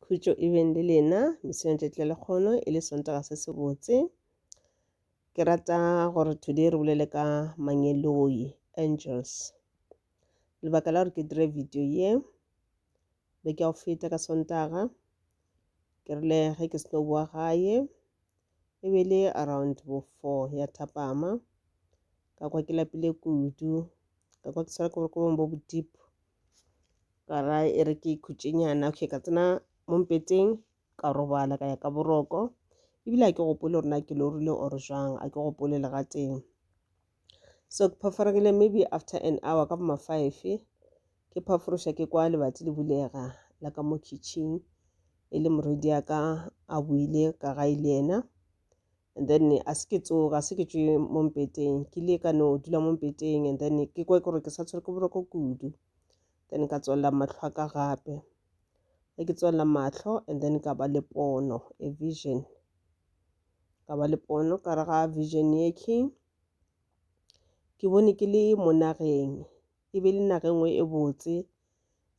khutšo e beng le lena meseong tšatši la lekgono e le sontaga se se botse ke rata gore today re bolele ka mangeloi angels lebaka la gore ke dire video ye be ke a o feta ka sontaga ke rile ge ke seno boa gae e be le around bo four ya thapama ka kwa ke lapile kudu ka kwa ke swara ke boroko bong bo bo deep ka ra e re ke ikhutšenyana okay ka tsena mo mpeteng ka robala ka ya ka boroko ebile a ke gopole gore na ke lorile or jang a ke gopole le gateng so ke phaforegile maybe after an hour ka boma five ke phaforoša ke kwa lebati le bulega la ka mo kitchen e le moredi ya ka a buile ka ga ile yena and then a se ke tsoga se ke tšwe mo mpeteng ke ile ka no dula mo mpeteng and then ke kwe gore ke sa tshwere ke boroko kudu then ka tswalela matlho a ka gape ge ke tswalela matlho and then ka ba le pono a vision ka ba le pono ka re ga vision ye ke ke bone ke le mo nageng e be le naga nngwe e botse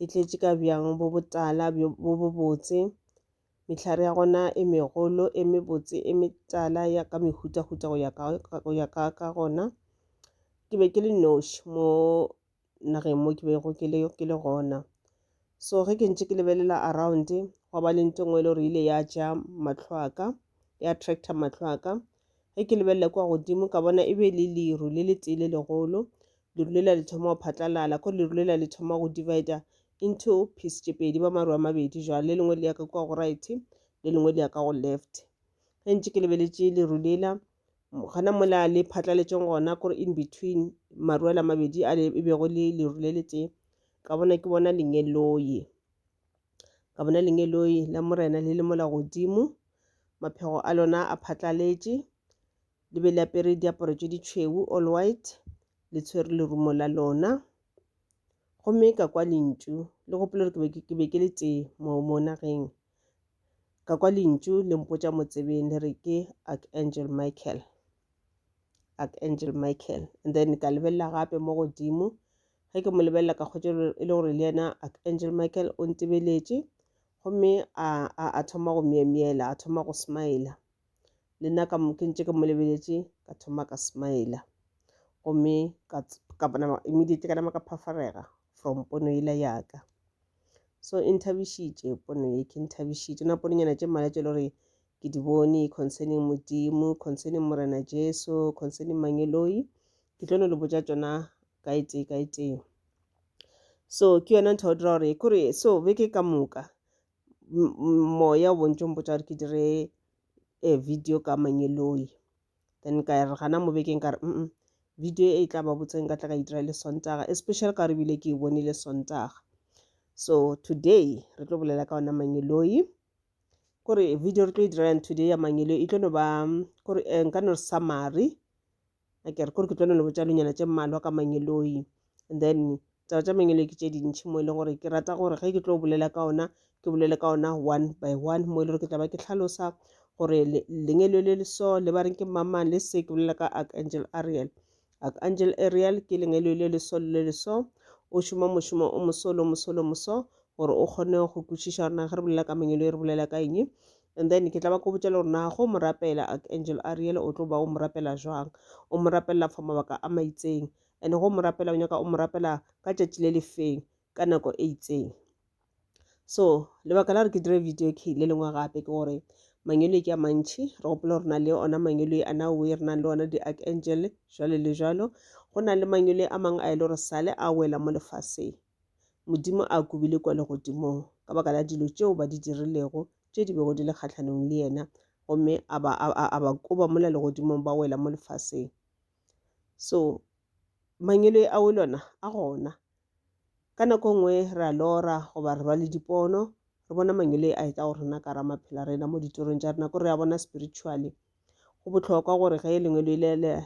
e tletše ka bjang bo botala bo botse Mehlare ya gona e megolo, e mebotse, e metala ya ka mehutahuta go ya ka, go ya ka, ka gona. Ke be ke le noši mo nageng mo ke bego ke le, ke le gona. So ge ke ntše ke lebelela around gwa ba le nto nngwe e le gore ile ya ja matlho a ka ya attractor matlho a ka ge ke lebelela kwa godimo ka bona e be le leru le le tee le legolo leru lela le thoma go phatlalala ko leru lela le thoma go divider into piece tše pedi ba maru a mabedi jwale le lengwe le ya ka kwa go right le lengwe le ya ka go left ge ntse ke lebeletše leru lela gana mola le phatlaletšeng gona kore in between maru ala mabedi a e bego le leru le letee ka bona ke bona lengeloye ka bona lengeloye la morena le le mola godimo maphego a lona a phatlaletše Le be le apere diaparo tše ditšhweu, all white, le tshwere lerumo la lona. Gomme ka kwa lentšu, le gopola gore ke be ke le tee mo mo nageng. Ka kwa lentšu le mpotša motsebeng le re ke Archangel Michael. Archangel Michael. And then ka lebelela gape mo godimo. Ge ke mo lebelela ka kgotša e le gore le yena Archangel Michael o ntebeletše. Gomme a, a, a thoma go myemyela, a thoma go smile. le nna ka ke ntše ke mo lebeletše ka thoma ka smile gomme ka nama immediately ka nama ka phafarega from pono yela yaka so e nthabišitše pono ye ke nthabišitše na pononyana tše mmala tše le gore ke di bone concerning modimo concerning morena jesu concerning mangeloi ke tlo no le botša tšona ka e tee ka e tee so ke yona ntho ya go dira gore kore so beke ka moka moya o bontšo mpotsa gore ke dire a eh, video ka manyeloi then ka re gana mo bekeng ka re mm video e tla ba botseng ka tla ka e dira le sontaga especially ka re bile ke e bonile sontaga so today re tlo bolela ka ona manyeloi kore video re tlo e diralang today ya manyeloi e tlo no ba kore eh, nka no re summary a ke re kore ke tlo no le botša lonyana tše mmalwa ka mangeloi and then taba tša mangeloi ke tše dintšhi mo e leng gore ke rata gore ge ke tlo bolela ka ona ke bolele ka ona one by one mo e le gore ke tla ba ke tlhalosa gore lengelo le leso le ba reng ke mamang le se ke bolela ka archangel ariel archangel ariel ke lengelo le leso le leso o šoma mošomo o mosolo mosolo moso gore o kgone go kwešiša rena ge re bolela ka mengelo e re bolela ka eng and then ke tla ba ko botša le gore na go mo rapela archangel ariel o tlo ba o mo rapela jwang o mo rapelela for mabaka a maitseng and go mo rapela o nyaka o mo rapela ka tšatši le lefeng ka nako e itseng so lebaka la gore ke dire video ke le lengwe gape ke gore mangelo ke a mantšhi re gopola gore na le ona mangelo a na oe re nang le ona di-archangel jalo le jalo go na le mangelo a mangwe a e le gore sale a wela mo lefaseng Modimo a kubile kwa legodimong ka baka la dilo tšeo ba di dirilego tše di bego di le kgahlanong le yena gomme a ba, a, a, a ba koba mola legodimong ba wela mo lefaseng so mangelo a o lona a gona ka nako e nngwe re a lora goba re ba le dipono re bona mangelo a etla go rena ka ra maphela rena mo ditorong tša rena ko re a bona spiritually go bohlokwa gore ge lengwe le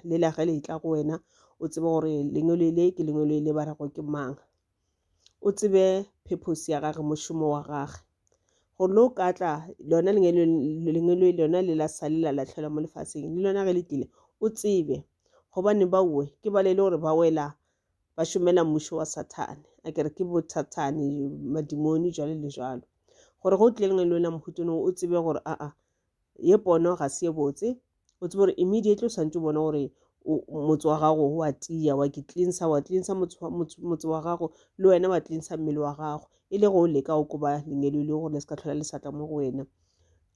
le la ge le tla go wena o tsebe gore lengwe le le ke lengwe le le ba rego ke mang o tsebe purpose ya gage mošomo wa gage go lo ka tla lona lengwe le lona le la sale la latlhelwa mo lefaseng le lona ge le tlile o tsebe gobane baowe ke ba le le gore ba wela ba šomela mmušo wa sathane a kere ke bothathane madimoni jalo le jalo gore go tle lengwe le lona mohutone o tsebe gore aa ye pono ga se ye botse o tsebe gore immediately o santse o bone gore motse wa gago wa tiya wa ke cleansa wa cleansa motse wa gago le wena wa cleansa mmele wa gago e le go o leka o koba lengelo e le gore le se ka tlhola le satla mo go wena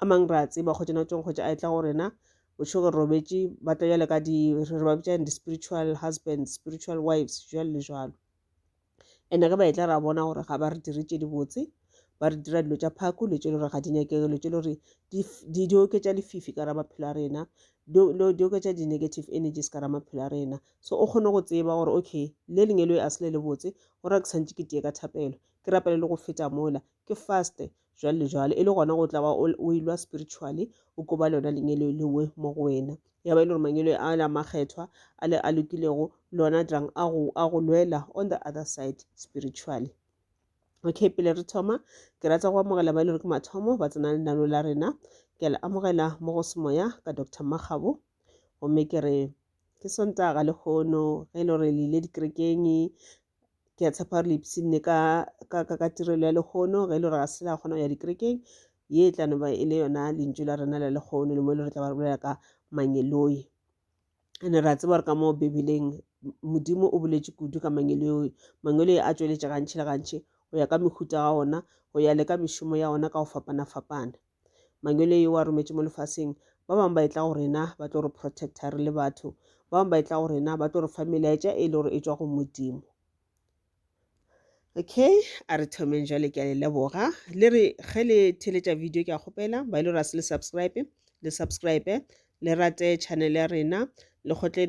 a mang re a tseba kgotsa na tsong kgotsa a e tla go rena o tšho gore robetse ba tla jale ka di re ba bitsa di-spiritual husband spiritual wives jalo le jalo ene ge ba etla ra bona gore ga ba re dire tše dibotse ba re dira dilo tša phako dilo tše le gore ga di nyakege dilo tše le gore di oketša lefifi ka ra maphelo a rena di oketša di-negative energies ka ra maphelo a rena so o kgone go tseba gore okay le lengwe le a se le le botse gore ke tshwanetse ke teye ka thapelo ke rapele le go feta mola ke faste jwalo le jwalo e le gona go tla ba o ilwa spiritually o ko ba lona lenyelo lengwe mo go wena ya ba e le gore manyelo a la makgethwa a le a lokilego lona drang a go a go lwela on the other side spiritually okay pele re thoma ke rata go amogela ba e le gore ke mathomo ba tsena lenano la rena ke le amogela mo go semoya ka dr makgabo gomme ke re ke sontaga lekgono ge e le gore le ile dikerekeng ke a tshepa gore le ipshinne ka ka ka ka tirelo ya lekgono ge e le gore ga se la kgona go ya dikerekeng ye e tla noba e le yona lentšu la rena la lekgono le mo e le re tla ba re bolela ka mangeloi ene re a tseba gore ka moo bibeleng modimo o boletše kudu ka mangeloi mangeloi a tšweletša gantši le gantši go ya ka mehuta ga ona go ya le ka mešomo ya ona ka go fapana-fapana Mangwele yo a rometše mo lefaseng. Ba bangwe ba etla go rena ba tlo re protecta re le batho. Ba bangwe ba etla go rena ba tlo re fa melaetša e le gore e tšwa go Modimo. Okay, a re thomeng jale ke a le leboga. Le re ge le theletša video ke a kgopela ba ile gore a se le subscribe le subscribe le rate channel ya rena le kgotle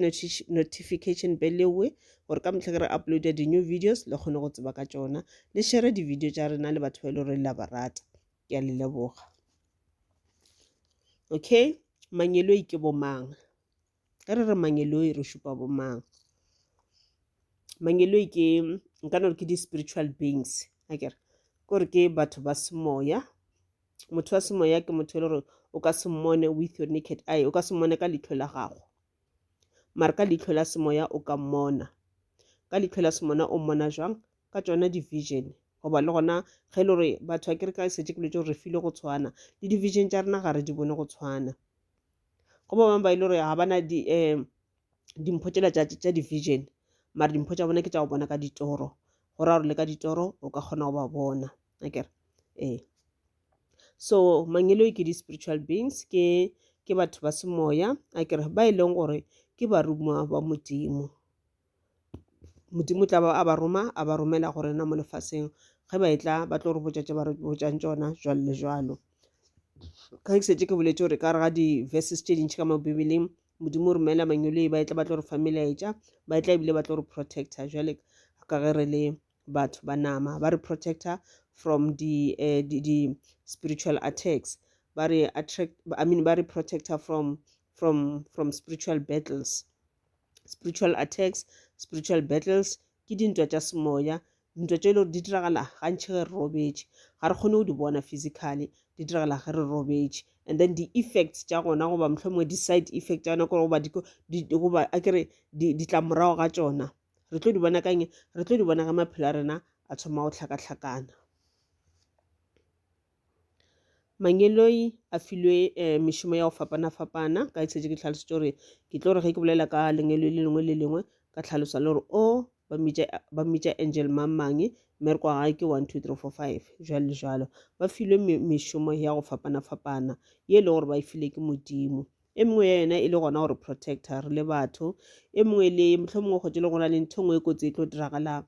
notification bell ewe gore ka mehla ke re uploada di-new videos le kgone go tseba ka tšona le share di-video tša rena le batho ba e le gore le a ba rata ke a le leboga okay mangeloi ke bo mang ge re re mangeloi re šupa bo mang mangeloi ke nka no re ke di-spiritual beings a kere kore ke batho ba semoya motho wa semoya ke motho e le gore o ka se mmone with your naked eye o ka se mmone ka leihlo la gago mare ka leitlho la semoya o ka mmona ka leitlho la semona o mmona jwang ka tsona division goba le gona ge e le gore batho ba kereka e setse ke letse gore re file go tshwana le division tša rena ga re di bone go tshwana go ba bangwe ba e le gore ga bana di um dimpho tsela tša division mare dimpho tša bona ke tša go bona ka ditoro go ra gore le ka ditoro o ka kgona go ba bona akere ee so mangeloi ke di-spiritual beings ke ke batho ba semoya a kere ba e leng gore ke barumiwa ba modimo modimo tla ba a ba roma a ba romela go rena mo lefaseng ge ba e tla ba tlo re botša tše ba re botšang tšona jwalo le jwalo ka ke setse ke boletse gore ka re ga di-verses tše dintšhi ka mo bibeleng modimo o romela mangweloi ba e tla ba tlo re fa melaetša ba e tla ebile ba tlo re protector jwale ka ge re le batho ba nama ba re protector from the uh, the, the spiritual attacks ba re attract i mean ba re protector from from from spiritual battles spiritual attacks spiritual battles ke dintwa tša semoya dintwa tše e le gore di diragala gantšhi ge re robetše ga re kgone go di bona physically di diragala ge re robetše and then di-effects tša gona goba mohlomongwe di-side effect tša gona kore goba a kere ditlamorago ga tšona re tlo di bona ka eng re tlo di bona ka maphelo a rena a thoma go tlhakatlhakana mangeloi a filwe um mešomo ya go fapana-fapana ka etsetse ke tlhalosetse gore ke tlo re ge ke bolela ka lengeloi le lengwe le lengwe ka tlhalosa le gore o ba mmitša angel mang mang mme re kwa gae ke one two three four five jalo le jalo ba filwe mešomo ya go fapana-fapana ye e le gore ba e file ke modimo e mengwe ya yona e le gona gore protector re le batho e mengwe le mohlomongwe kgotse le gona le ntho e nngwe e kotsi e tlo diragalang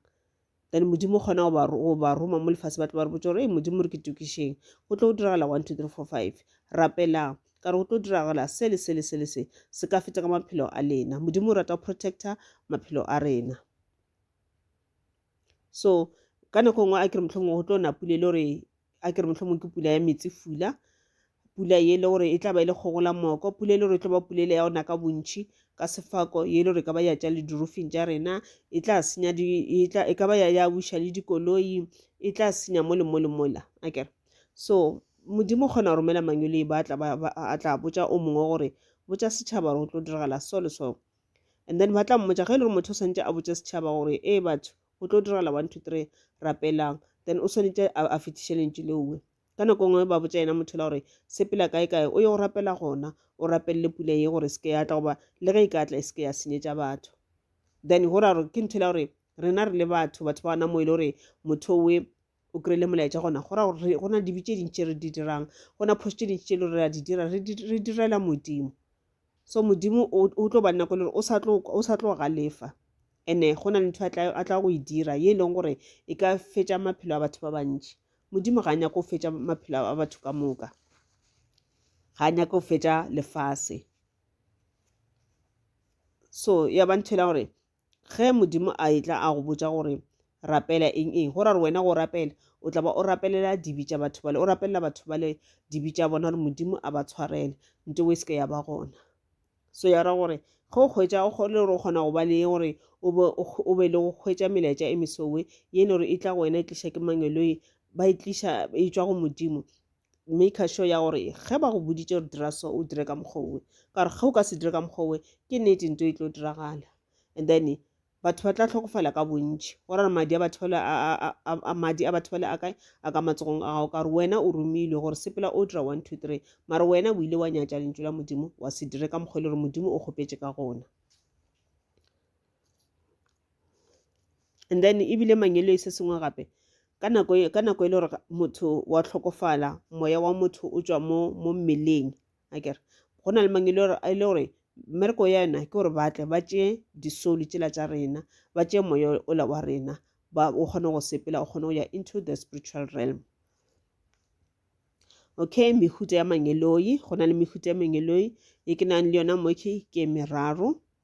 then modimo kgona go ba roma mo lefase ba tlo ba re botsa gore e modimo re ke tokišeng go tlo go diragala one two three four five rapelang ka re go tlo diragala se le se le se le se se ka feta ka maphelo a lena modimo o rata go protector maphelo a rena so ka nako nngwe a kere mohlomongwe go tlo na pula e le gore a kere mohlomongwe ke pula ya metsi fula pula ye e le gore e tla ba e le kgogola moko pula e le gore e tlo ba pula e le ya ona ka bontšhi ka sefako ye e le gore e ka ba ya tša le dirufing tša rena e tla senya e ka ba ya buša le dikoloi e tla senya mo le mo le mola a kere so modimo kgona go romela mangwele e ba a tla botša o mongwe gore botša setšhaba gore go tlo diragala so le so and then ba tla mmotsa ge e le gore motho o santse a botse setšhaba gore ee batho go tlo diragala one two three rapelang then o swanetse a fetiše lentšu leowe ka nako ngwe ba botsa yena motho la gore sepela kae kae o ye go rapela gona o rapelele pula ye gore seke ya tla goba le ge e ka tla e seke ya senyetša batho then go ra gore ke ntho la gore rena re le batho batho ba gona mo e le gore motho owe o kry-ile molaetša gona go ra gore go na le dibe tše dintši tše re di dirang go na phoso tše dintši tše le gore re a di dira re direla modimo so modimo o tlo ba nna ko le gore o sa tlo galefa and-e go na le ntho a tla go e dira ye e leng gore e ka fetša maphelo a batho ba bantši modimo ga a nyako go fetša maphelo a batho ka moka ga a nyako go fetša lefase so ya ba ntho e la gore Ge Modimo a etla a go botša gore rapela eng eng, go ra gore wena go rapela o tla ba o rapelela dibi tša batho bale, o rapelela batho bale dibi tša bona gore Modimo a ba tshwarele nto e se ke ya ba gona. So ya ra gore ge o hwetša o kgole gore o kgona go ba le gore o be o be le go hwetša melaetša e mesowe ye e le gore e tla go wena e tliša ke mangeloi ba e tliša e tšwa go Modimo maker sure ya gore ge ba go boditše gore dira so o dire ka mokgowe ka gore ge o ka se dire ka mokgowe ke nnete nto e tlo diragala and then batho ba tla tlhokofala ka bontši go rare madi a batho bale a madi a batho bale a kae a ka matsogong a gago ka gore wena o romilwe gore sepela o dira one two three mara wena o ile wa nyatša lentšu la modimo wa se dire ka mokgwa e le gore modimo o kgopetše ka gona and then ebile mangelo e se sengwe gape ka nako e, ka nako e le gore motho wa tlhokofala moya wa motho o tswa mo mo mmeleng a kere go na le mangelo e le gore mmereko ya yona ke gore ba tle ba tšee disoli tsela tša rena ba tšee moya ola wa rena ba o kgone go sepela o kgone go ya into the spiritual realm okay mehuta ya mangeloi go na le mehuta ya mangeloi e ke nang le yona mo ke ke meraro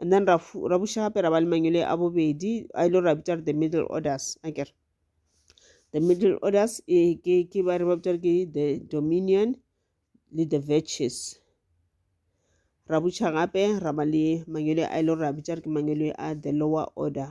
and then ra buša gape ra ba le mangwele a bobedi a ile ra bitša the middle orders akere the middle orders e ke ke ba re ba bitša ke the dominion le the virtues ra buša gape ra ba le mangwele a ile ra bitša ke mangwele a the lower order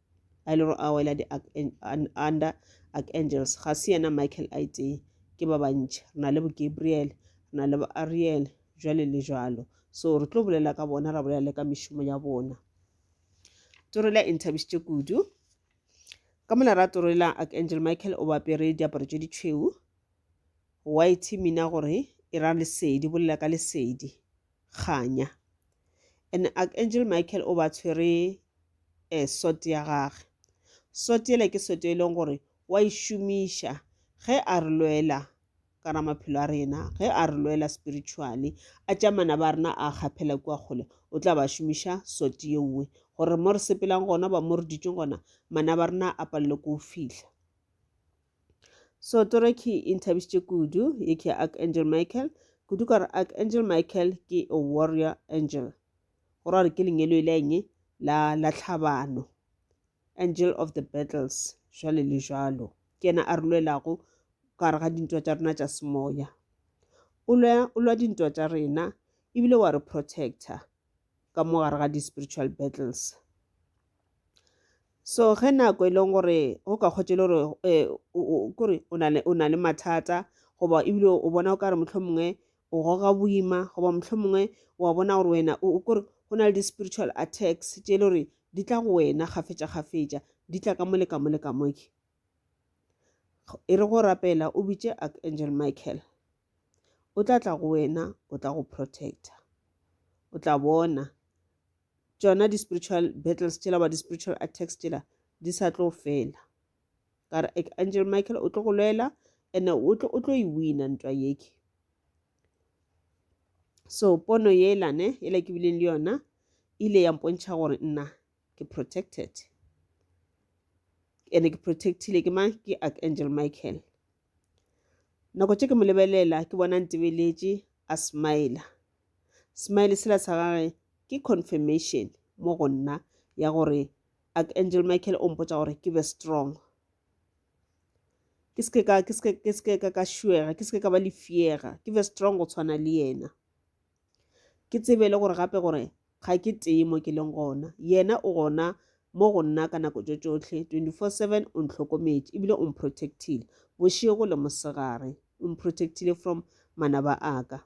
a ile a wela di under archangels ga se yena michael a itee ke ba bantši re na le bo gabriel re na le bo ariel jwale le jwalo so re tlo bolela ka bona ra bolela le ka mešomo ya bona torela e nthabišitše kudu ka mola ra torela archangel michael o bapere diaparo tše ditšhweu white mina gore e ra lesedi bolela ka lesedi kganya and archangel michael o ba tshwere eh, sort ya gage sort yele ke sort e leng gore wa e šomiša ge a re lwela ka ra maphelo a rena ge a re lwela spiritually a tša mana ba rena a kgaphela kua kgole o tla ba šomiša sort ye nngwe gore mo re sepelang gona ba mo re ditšeng gona mana ba rena a palele ko o fihla so toro ke e nthabišitše kudu ye ke archangel michael kudu ka gore archangel michael ke a warrior angel go ra gore ke lengelo e le eng la la tlhabano angel of the battles jwale le jwalo ke yena a re lwelago ka gare ga dintwa tša rena tša semoya o lwa dintwa tša rena ebile wa re protector ka mo gare ga di-spiritual battles so ge nako e leng gore go ka kgotse le gore um kore o na le mathata goba ebile o bona o ka re motlho mongwe o goga boima goba motlho mongwe wa bona gore wena o kore go na le di-spiritual attacks tše e le gore di tla go wena kgafetša kgafetša di tla ka mo le ka mo le ka moke e re go rapela o bitše archangel michael o tla tla go wena o tla go protector o tla bona tšona di-spiritual battles tšela ba di-spiritual attacks tšela di sa tlo fela ka re angel michael o tlo go lwela and o tlo o tlo e wina ntwa yeke so pono yela ne yela ke bileng le yona ile ya mpontšha gore nna ke protected and ke protectile ke mang ke archangel michael nako tše ke mo lebelela ke bona ntebeletše a smile smile sela sa gage ke confirmation mo go nna ya gore archangel michael o mpotsa gore ke be strong ke seke ka ka ka šuega ke seke ka ba lefiega ke be strong go tshwana le yena Ke tsebe le gore gape gore ga ke tee mo ke leng gona. Yena o gona mo go nna ka nako tšo tšohle, 24-7 o ntlhokometše ebile o mprotectile bošego le mosegare. O mprotectile from manaba a ka.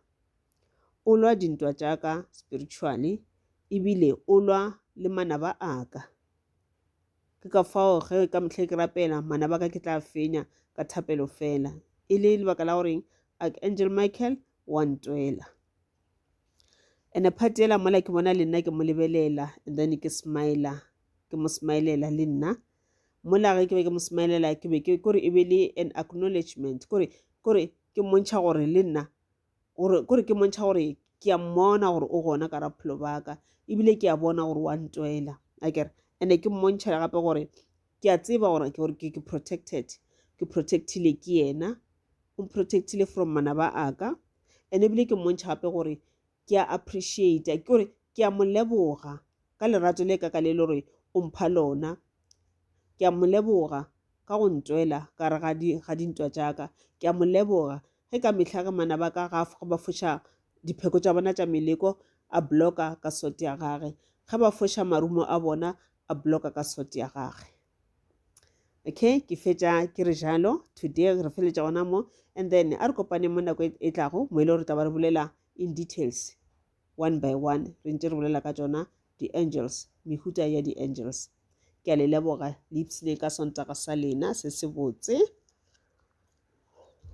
O lwa dintwa tša ka spiritually ebile o lwa le manaba a ka. Ke ka fao ge ka mehla ke rapela manaba a ka ke tla fenya ka thapelo fela. E le lebaka la goreng Archangel Michael wa ntwela ene part ela mola ke bona le nna ke mo lebelela and then ke smile ke mo smilela le nna mola ge ke be ke mo smilela ke be ke kore e be le an acknowledgement kore kore ke mmontšha gore le nna kore ke mmontšha gore ke a mmona gore o gona ka raphelo baka ebile ke a bona gore wa ntwela akere ande ke mmontšha gape gore ke a tseba gore ke gore ke protected ke protectile ke yena o protectile from manaba a ka ene ebile ke mmontšha gape gore ke a appreciate ke gore ke a mo leboga ka lerato le ka ka le le gore o mpha lona ke a mo leboga ka go ntwela ka re ga dintwa tša ka ke a mo leboga ge ka mehla ge mana ba ka ga ba foša dipheko tša bona tša meleko a blocka ka sote ya gage ge ba foša marumo a bona a bloka ka sort ya gage okay ke fetša ke re jalo today re feletša gona mo and then a re kopane mo nako e, e tlago mo e le gore taba re bolela in details one by one re ntse re bolela ka tsona di-angels mehuta ya di-angels ke a le leboga le ipsene ka sontaka sa lena se se botse